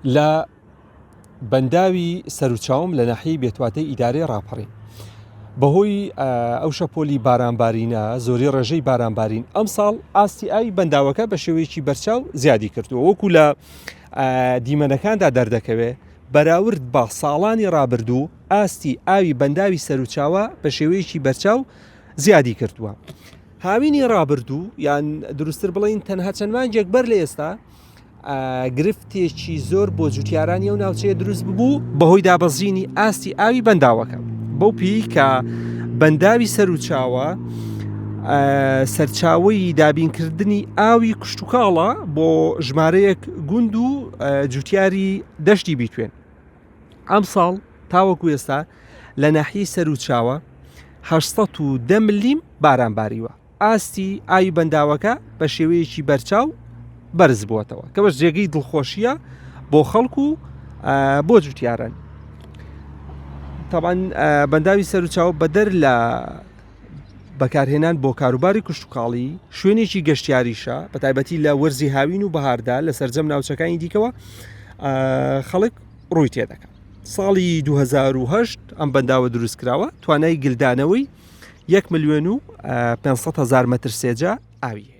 لە بەنداوی سەروچاوم لە ناحیەی بێتواتەی ئیدارەی ڕاپەڕین بەهۆی ئەو شەپۆلی بارانبارینە زۆری ڕێژەی بارانبارین ئەمساڵ ئاستی ئاوی بەنداوەکە بە شێوەیەکی بەرچاو زیادی کردووە وەکو لە دیمەنەکاندا دەردەکەوێت بەراورد بە ساڵانی ڕابردوو ئاستی ئاوی بەنداوی سەروچاوە بە شێوەیەکی بەرچاو زیادی کردووە. هاوینی ڕابردوو یان دروستتر بڵین تەنها چەند مانجێک بەر لە ئێستا گرفتێکی زۆر بۆ جوتیارانی ئەو ناوچەیە دروست ببوو بەهۆی دابەزینی ئاستی ئاوی بەنداوەکە بەو پێی کە بەنداوی سەر و چاوە سەرچاوی دابینکردنی ئاوی کوشتتوکاڵە بۆ ژمارەیەک گوند و جوتیاری دەشتی بیتوێن ئەم ساڵ تاوەکو ئێستا لە ناحی سەر و چاوە 1970 لیم باران باریوە ئاستی ئاوی بەنداوەکە بە شێوەیەکی بەرچاو بەرز بووەتەوە کەەوەش جێگەی دڵخۆشیە بۆ خەڵک و بۆ جوتیارن تاوان بەنداوی سەرچاو بەدەر لە بەکارهێنان بۆ کاروباری کوشتتوکاڵی شوێنێکی گەشتیاریشە بە تایبەتی لە وەرزی هاوین و بەهاردا لە سرجەم ناوچەکانی دیکەوە خەڵک ڕووی تێ دەکەن ساڵی 2010 ئەم بەنداوە دروست کراوە توانای گلدانەوەی یەک ملیۆن و پێ هزار مەتر سێجا ئاوی هەیە